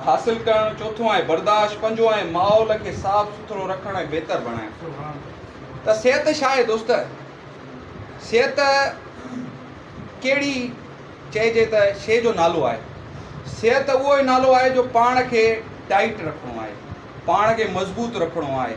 حاصل ڪرڻ، چوٿون آهي برداشت، پنجون آهي ماحول کي صاف سٿرو رکڻ ۽ بهتر بڻائڻ. ته صحت ڇا آهي دوست؟ صحت ڪهڙي چئجي ته شيء جو نالو آهي؟ صحت اهو ئي نالو آهي جو پاڻ کي ٽائيٽ رکڻو آهي، پاڻ کي مضبوط رکڻو آهي.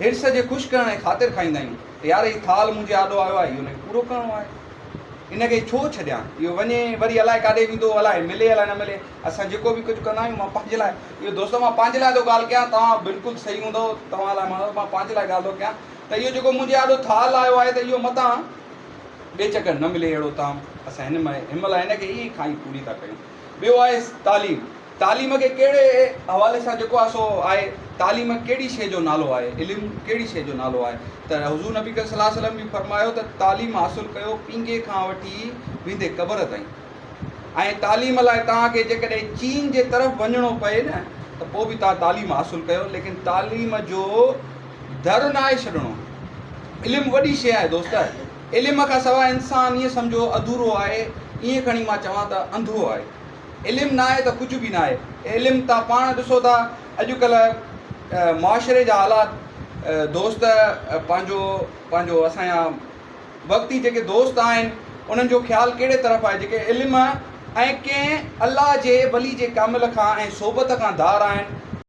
حرص جي خوش ڪرڻ جي خاطر کائيندا آهيون ته يار هي ٿالهه منهنجي آڏو آيو آهي اهو نڪ پورو ڪرڻو آهي ان کي ڇو ڇڏيان اهو وڃي وري الائي ڪاڏي ويندو الائي ملي الائي نه ملي اسان جيڪو به ڪجهه ڪندا آهيون مان پنهنجي لاء اهو دوستو مان پنهنجي لاء ٿو ڳالهه ڪيان توهان بلڪل صحيح هوندو توهان لاء ماڻهو مان پنهنجي لاء ڳالهه ٿو ڪيان ته اهو جيڪو منهنجي آڏو ٿالهه آيو آهي ته اهو متان ٻئي چڪر نه ملي اهڙو طعام اسان هن مهل هن کي ئي کائي پوري ٿا ڪيون ٻيو آهي تعليم، تعليم کي ڪهڙي حوالي سان جيڪو آهي سو آهي، تعليم ڪهڙي شيء جو نالو آهي، علم ڪهڙي شيء جو نالو آهي ته حضور نبي ڪريم صلي الله عليه وسلم به فرمايو ته تعليم حاصل ڪيو پينگهي کان وٺي ويندي قبر تائين ۽ تعليم لاء توهان کي جيڪڏهن چين جي طرف وڃڻو پئي نه ته پوء به توهان تعليم حاصل ڪيو ليڪن تعليم جو در ناهي ڇڏڻو علم وڏي شيء آهي دوست. علم کان سواء انسان ائين سمجهو اڌورو آهي، ائين کڻي مان چوان ته انڌو آهي. علم ناهي ته ڪجهه به ناهي. علم تان پاڻ ڏسو ٿا اڄڪلهه معاشري جا حالات دوست پنهنجو پنهنجو اسان جا وقتي جيڪي دوست آهن انهن جو خيال ڪهڙي طرف آهي جيڪي علم ۽ ڪنهن الله جي ولي جي ڪامل کان ۽ صحبت کان ڌار آهن،